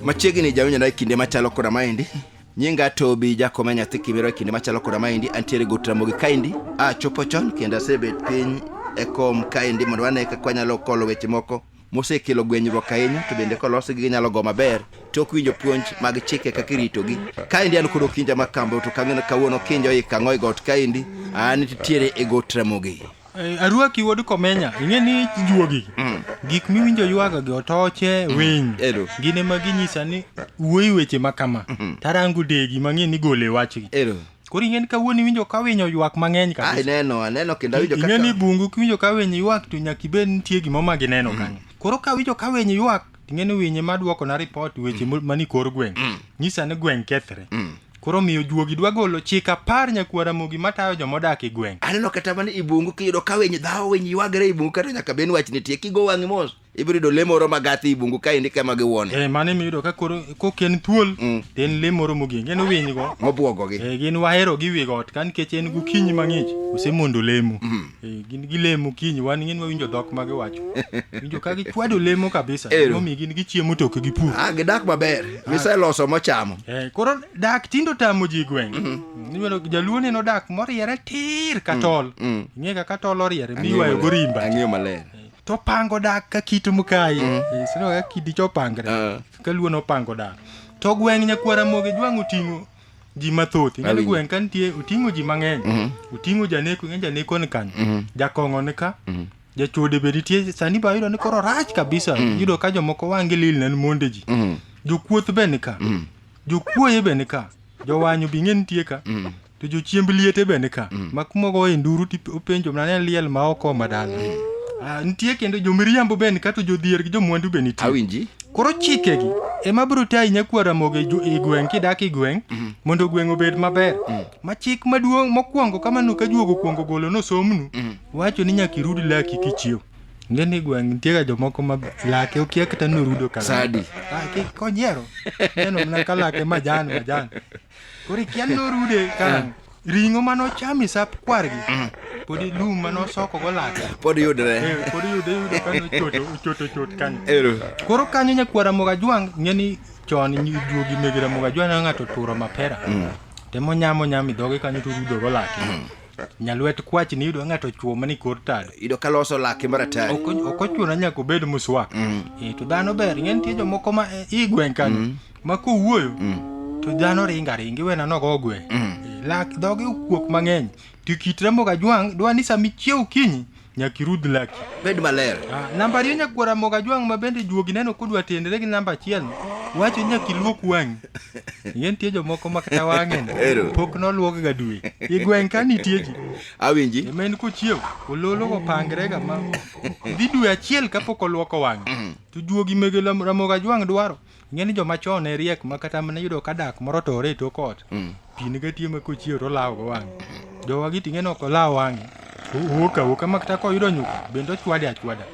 machiegni jawinjona e kinde machalo koda maendi nyinga tobi jakoma nyathi kibiro e kinde machalo koda maendi antiere go tramogi kaendi achopo chon kendo asebet piny e kom kaendi mondo wane kaka wanyalo kolo weche moko mosekelo gwenyruok ahinya to bende kolosgi ginyalo go maber to ok winjo puonj mag chike kaka iritogi kaendi an kod okinja ma kambo to kang'eno kawuono okinja oik ang'o e got kaendi an nitiere e got ramogi Eh, Aruaki wuod Komenya, ing'e ni juogi. Gik miwinjo ywaga gi otoche, winy. Ero. Gin ema ginyisa ni wuoyi weche ma kama. Tarango degi mang'e ni gole wachgi. ero Koro ing'e ni kawuono iwinjo ka winy oywak mang'eny kabisa. Ai neno, aneno kendo awinjo kaka. Ing'e ni bungu kiwinjo ka winy ywak to nyaka ibed nitie gima ma gineno mm. kanyo. Koro ka winjo ka winy ywak ing'e ni winy ema duoko na report weche mm. mani kor gweng'. Mm. Nyisa ni gweng' kethre. Mm. Koro miyo juogi dwa golo chik apar nyakuo Ramogi matayo joma odak e gweng'. Aneno kata mana i bungu kiyudo ka winy dhawo winy ywagre i bungu kata nyaka ben wach nitie kigo wang'i mos. ibiro yudo lee moro magathi i bungu kaendi kema giwuone eh, mano ema iyudo ka koro kok en thuol mm. to en lee moro mogeng en winy go mobwogogi eh, gin wahero gi wi got ka nikech en gokinyi mang'ich osemondo lemo mm. eh, gin gilemo kinyi wan ng'en wawinjo dhok ma giwacho winjo ka gichwado lemo kabisa momi gin gichiemo to ok gipur ah, gidak maber ah. giseloso mochamo eh, koro dak tindo tamo ji gweng' mm-hmm. iyudo jaluo neno dak moriere tir katol mm, mm. ing'e kaka tol oriere miywayo gorimba ang'eyo maler to pango dak ka kit mkayi mm. eh, sino ka kidi cho pangre uh. ka luo no pango dak to gweng nyakwara moge jwang otingo ji mathoth ing'e gweng ka nitie oting'o ji mang'eny mm -hmm. oting'o janeko ing'e janeko ni kanyo mm -hmm. jakong'o ni ka mm -hmm. jachode be nitie sani ba yudo ni koro rach kabisa mm -hmm. yudo ka jomoko wang' gilil nen monde ji mm -hmm. jokuoth be ni ka mm -hmm. jokuoye be ni ka jowanyo bi ng'e nitie ka mm -hmm. To jochiemb liete be nika. Mm. Ma kuma ogoye nduru tipenjo mana ni liel ma oko ma dala. Mm. Ah, nitie kendo jomiriambo be nika to jodhier gi jomwandu be nitie. Awinji. Koro chikegi ema biro tayi nyakwar Ramogi e gweng' kidak e gweng' mm. mondo gweng' obed maber. Ma chik maduong' mokwongo kamano ka juogo kwongo golo nosomnu wacho ni nyaka irud laki kichiew. Nge ni gweng' nitie ga jomoko ma lake okia kata norudo kala. Sadi. Ah, konyiero. Neno mana ka lake majan majan. Koro ikia norude ka ring'o mane ochamo e sap kwargi podi lum mane osoko go lake Pod yudre. Eh, pod yude yude kane ochoto ochoto chot kanyo Ero. koro kanyo nyakwara mogajwang' ng'e ni chon nyi- juogi mege ramogi ajwang' ne ng'ato turo mapera temo nyamo nyamo idhoge kanyo to rudo go lake nyalwet kwach ni yudo ng'ato chuo mani kor tado Ido kaloso lake maratari. ok ok ochuno nyaka obed muswak Eh, to dhano ber ng'e nitie jomoko ma eh, i gweng' kanyo ma kowuoyo to dhano ringo aringa iwena nogo ogwe lak dhoge okuok mang'eny to kit ramogi ajwang' dwa ni sama ichiew okinyi nyaka irudh laki Bed maler. Ah, namba ariyo nyakwar ramogi ajwang' ma bende juogi neno kodwa tenre gi namba achiel wacho ni nyaka iluok wang'i ye nitie jomoko ma kata wang'e no, Ero. pok noluok ga dwe i gweng' ka nitie ji Awinji. ema en kochiew ololo opangrega ma dhi dwe achiel kapok oluoko wang'e to juogi mege lam- ramogi ajwang' dwaro ing'e ni joma chon ne riek ma kata mane yudo ka dak moro tore e tok ot mm. pi ne gatie ma kochiewo to olawo go wang'e jowa gi ting'e no ok olawo wang'e owuok awuoka ma kata koyudo nyuka bende ochwade achwada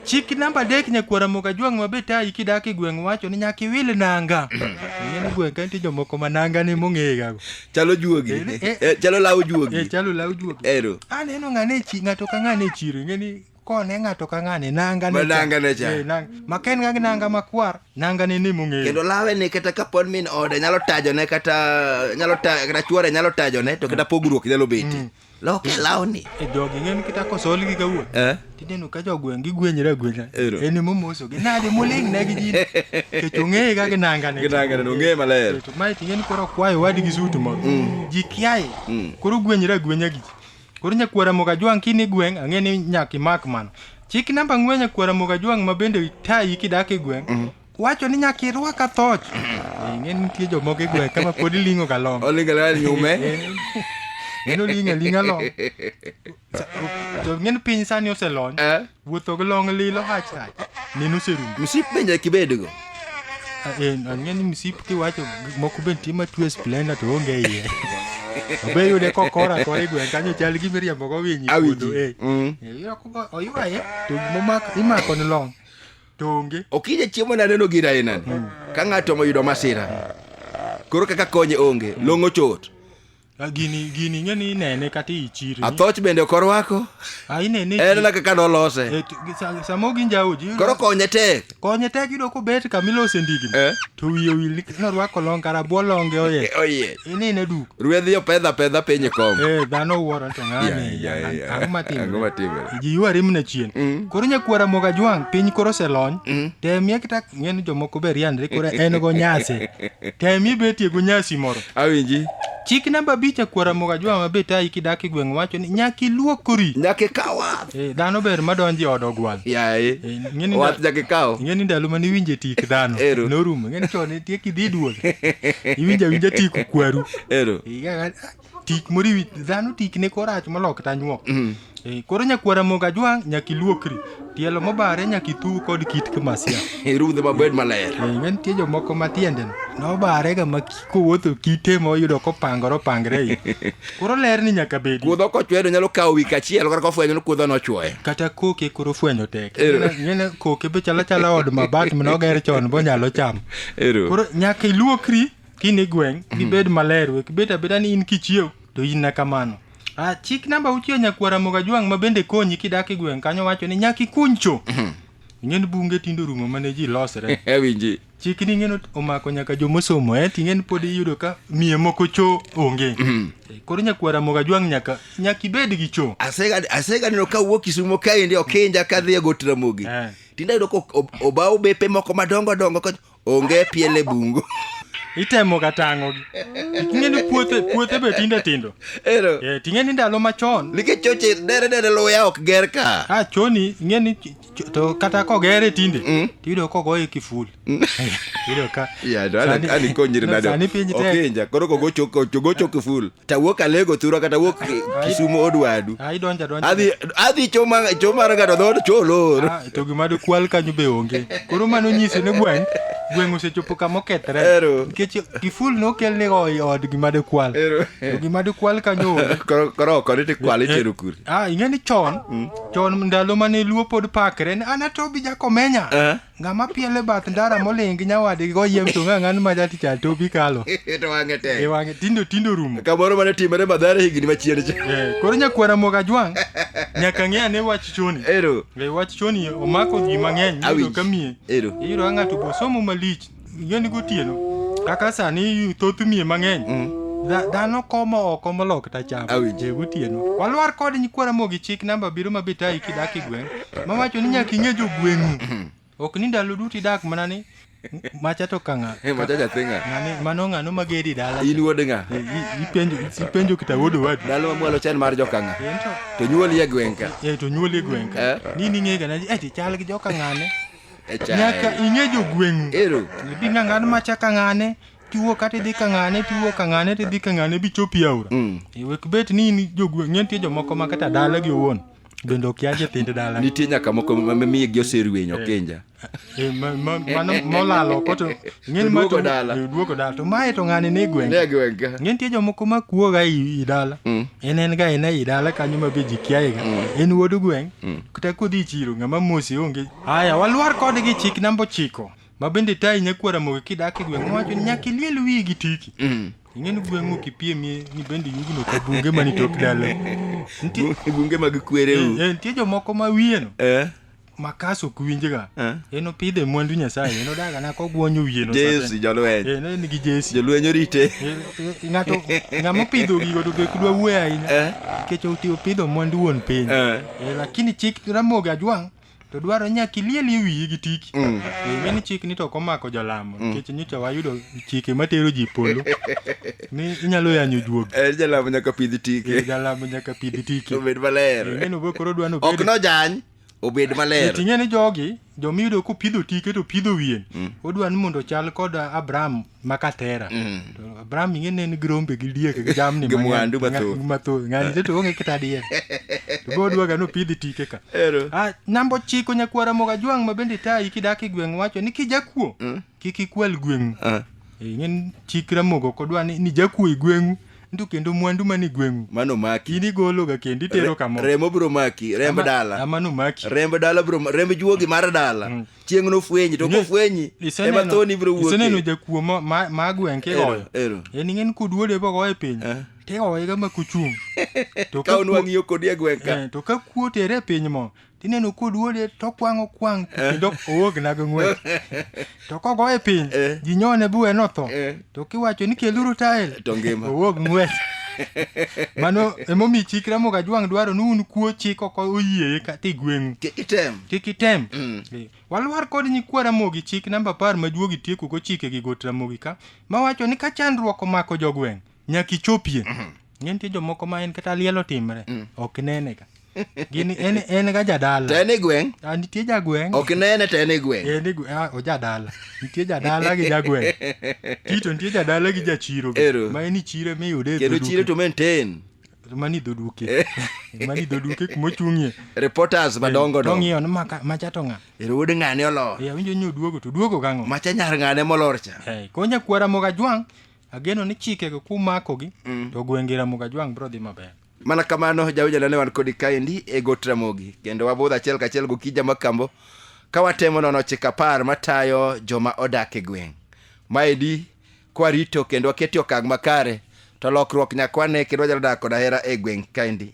chik namba adek nyakwara moga jwang' ma be tayi kidak e gweng' wacho ni nyaka iwil nanga ing'e ni gweng' ka nitie jomoko ma nanga ne mong'eyegago chalo juogi eh, eh, eh. chalo law juogi chalo law juogi aneno ng'ane ng'ato ka ng'ane e chiro ing'e ni kone ng'ato ka ng'ane nanga Ma nangane cha. Eh, nang- ma ka en ga gi nanga makwar nangane ni mong'eyo kendo lawe ni kata kapod min ode nyalo tajone kata nyalo ta- kata chuore nyalo tajone to kata pogruok nyalo bete loke lawni e jogi ng'en kita kosol gi kawuono Eh? tineno ka jogweng' gigwenyre agwenya Ero. en emomosogi nade moling' negi jin kech ong'eye ga gi nangane Gi nangane, no, ong'eye maler. To mae ting'eni koro kwayo wadi gi suit moro ji kiaye koro gwenyre agwenya gi ji Koro nyakuo Ramogi Ajwang' kini gweng' ang'e ni nyaka imak mano. Chik namba ang'wen nyakuo Ramogi Ajwang' ma bende tayi kidak e gweng' mm. wacho ni nyaka irwak athoch. Ing'e ni nitie jomoko e gweng' kama pod iling'o ga long. Oling'o ga nyume. Ng'e ni oling'o aling'a long. To ng'e ni piny sani oselony. Eh? Wuotho gi long lilo hach hach. Neno serumu. Msip be nyaka ibedgo. Ang'e ni msip kiwacho gik moko be nitie matue splenda to onge iye. Obe yude kokora akora e gweng' kanyo chal gi miriambo go winyi. Awinji. Eh. Mm. Oywaye to gimomako imako ni long. To onge. Okija chiemo na neno gira inani. Ka ng'ato oyudo masira. Koro kaka konye onge. Long ochot. Ah, gini gini ing'e ni inene kata i chiro athoch bende ok orwako ah, inene en na kaka nolose eh, samo gi njaoji koro konye tek konye tek yudo kobet kama ilose ndigni eh? to wiye owil nikech norwako long kara bwo longe oye eh, oye inene duk ruedhi opedha pedha piny e kom eh, dhano wuoro to ng'ani ang'o matimre ji yuari mna chien mm. koro nyakwara moga jwang' piny koro oselony mm. temie kata ing'e ni jomoko be riandre koro en go nyasi tem ibetie go nyasi moro awinji chik namba abich akwara moga jwa ma be tayi kidak e gweng' wacho ni nyaka iluokori nyaka ikaw wath Eh, dhano ber madonjo e od ogwal yaye Eh, ing'e ni wath da- nyaka ikaw ing'e ni ndalo mane iwinje tik dhano Ero. norumo ing'e ni chon nitie kidhi duol iwinja winja tik kwaru ero Iga- tik moro iwi dhano tikne koro rach molok tanyuok mm. e, koro nyakwara moga jwang' nyaka iluokri tielo mobare nyaka ithu kod kit kamasia irudhe mabed maler e, ne nitie jomoko ma tiendeno nobarega ma kowuotho kite ma oyudo kopangore opangre i koro ler ni nyaka bedi kuodho kochwedo nyalo kawo wik achiel kata kofwenyo ni kuodho nochwoye kata koke koro fwenyo tek ngene koke be chala chala od mabat manoger chon bonyalo chamo koro nyaka iluokri kini gweng gibed maler wek bet abeda ni in kichiew to in na kamano ah, chik namba uchiyo nyakwara moga jwang ma bende konyi kidak e gweng kanyo wacho ni nyaki kuncho ing'eni bunge tindo rumo mane ji losre Ewinji. chik ni ing'eni omako nyaka jomosomo eh ting'eni pod iyudo ka miye moko cho onge Eh, koro nyakwara moga jwang nyaka nyaka ibed gi cho Asega asega neno ka wuok Kisumo kaendi Okinja kadhi e Got Ramogi. Eh. Tinda yudo ko ob- obawo bepe moko madongo dongo ka onge piele bungu itemo ga tang'o gi ting'e ni puothe puothe be tinde tindo ero eh ting'e ni ndalo machon nikech choche dere dere luya ok ger ka a choni ing'e ni ch- ch- to kata kogere tinde Mm. tiyudo kogoye kiful iyudo ka ya to sani- ani konyiri no, nade sani piny tek okinja koro kogocho kogocho kiful to awuok alego thurwa kata awuok kisumo odwadu Ah, idonja donja. adhi adhi choma chomara ng'ato dhood cholor Ah, to gima dikwal kanyo be onge koro mano nyisi ni gweng' gweng' osechopo kama okethre Ero. nikech kiful nokel ni oi od gima dikwal Ero. to gima dikwal kanyo onge Koro- koro oko ni tikwale chero kuri ah ing'e ni chon chon ndalo mane luo pod pakre ne an atobi jakomenya Eh. Ng'ama pielo e bath ndara moling' gi nyawadgi goyiem to ng'a ng'an ma jatich a topi kalo. to wang'e tek. E wang'e tindo tindo rumo. Kamoro mane timore madhare higni machien cha. Eh, koro nyakwara moga jwang' nyaka ng'e ane wach choni. Ero. E wach choni omako ji mang'eny Awinj. iyudo ka miye. Ero. Iyudo ka ng'ato bosomo malich Ing'eni gotieno kaka sani thoth miye mang'eny dha- dhano komo oko molok tacham Awinjo. Eh, gotieno walwar kod nyikwa ramogi chik namba abiriyo ma bitayi kidak e gweng' mawacho ni nyaka ing'e jogweng'u ok ni ndalo duto idak mana ni macha to kang'a Eh, macha nyathi ng'a ng'ani mano ng'ano mageri dala in wuod ng'a Eh, i- ipenjo ipenjo kita wuod owadu dala mamwalo chan mar jokang'a Eh, to- to nyuoli e gweng' ka eh, to nyuoli e gweng' ka Eh. ni ning'ega na eh, ti chal gi joka ng'ane nyaka ing'e jogweng'u bi ng'ang'an macha ka ng'ane tiwuok kata idhi ka ng'ane tiwuok ka ng'ane tidhi ka ng'ane bichopi aora mm. e wek bet ni in jogweng' nitie jomoko ma kata dalagi owuon bende okia nyithind dala nitie nyaka moko mamiye gi oserweny eh. okinja eh, mano molalo koto ng'eni maduogo dala eh, to mae to ng'ani ni gweng' ng'e nitie jomoko ma kuoga i dala mm. en en ga en e i dala kanyo ma be ji kiaega mm. en wuod gweng' Kata kodhi e chiro ng'ama mose onge. Haya, walwar kode gi chik namba ochiko. Ma bende tayi nyakwara moge kidak e gweng' wacho ni nyaka iliel wiyi gi tiki. Mm. Ing'eni gweng'u kipiemie ni bende yugno ka bunge mani tok dala. Nitie Bu- Bunge mag kwereu. eh, nitie jomoko ma wiyeno Eh? makas ok winjga. Eh. En opidhe mwandu Nyasaye, en odaga na kogwonyo wiyeno. Jesi jolweny. Eh, en gi jesi. Jolweny orite. Eh, eh, Ng'ato ng'ama opidho gigo to be kudwa wuoyo ahinya. Eh? Nikech oti- opidho mwandu wuon piny. Eh. Eh, lakini chik Ramogi Ajwang' to dwaro nyaka ilielie wiyi gi tiki Mm. Eh, ng'eni chik ni to ok omako jolamo nikech nyocha wayudo chike matero ji polo ni inyalo yanyo juogi Eh, jalamo nyaka pidh Eh, tike jalamo nyaka pidh tiki obed maler ng'eni obo koro dwano ok nojany obed maler ting'e ni jogi joma iyudo kopidho tike to pidho wiye mm. odwa ni mondo chal kod abraham makatera mm. to abraham ing'e ne en gi rombe gi diek gi jamni mwandu mathoth ng'ani te to onge kata diek to be odwaga nopidhi tike ka ah, namba ochiko nyakwara moga jwang' ma bende tayi kidak e gweng' wacho ni kijakuo mm. kik ikwal gweng'u ah. eh, ing'e chik ramogo kodwa ni jakuo e gweng'u mwandu kendo mwandu man e gweng'u mano maki in igologa kendo itero kamo remo biro maki remb Ama- dala ama nomaki remb dala biro remb juogi mar dala Mm. chieng' nofwenyi to Inge- kofwenyi ema iseneno- thoni biro iseneno wuokie jakuo ma- ma ma gweng' kigoyo Ero, ero. en ing'en kuduode bogo e piny Eh. tigoyega ma kuchung' To ka ka onwang' kuo- yo kodi e gweng' ka eh, to ka kuo tere e piny mo tineno koduode tokwang'o kwang' kendo ok owogna gi ng'wech to kogoye piny Eh. ji nyone buwe notho Eh. to kiwacho ni keluru tael To ngima. owog ng'wech mano emomiyo chik ramogi ajwang' dwaro ni un kuo chik ok oyieye kata igweng'u Kik item. kik item Mm. Eh, walwar kod nyikwa ramogi chik namba apar ma juogi tiekogo chike gi got ramogi ka mawacho ni ka chandruok omako jogweng' nyaka ichopie ng'e nitie jomoko ma en kata liel otimre ok nene ka gin en, en ga jadala to en e gweng' Ah, nitie jagweng' ok nene to en e gweng' en igu- ah, ojadala nitie jadala gi jagweng' tito nitie jadala gi jachiro be, Ero. ma en ichire miyude e kendo dho chiro duke. to maintain mani dho duke mani dho duke kuma ochung'ie reporters madongo dongo tong'iyo ni maka- macha to ng'a ero wuod ng'ane olor Eh, awinjo ni oduogo to duogo gang'o macha nyar ng'ane molor cha Eh, konya kwara moga jwang' ageno ni chikego kumakogi mm. to gwenge ramoga jwang' biro dhi maber mana kamano jawinjana ne wan kodi kaendi e got ramogi kendo wabudho achiel kachiel gokija makambo ka watemo nono chik apar matayo joma odak e gweng' maedi kwarito kendo waketi okang' makare to lokruok nyakwane kendo wanyalo dak kod ahera e gweng' kaendi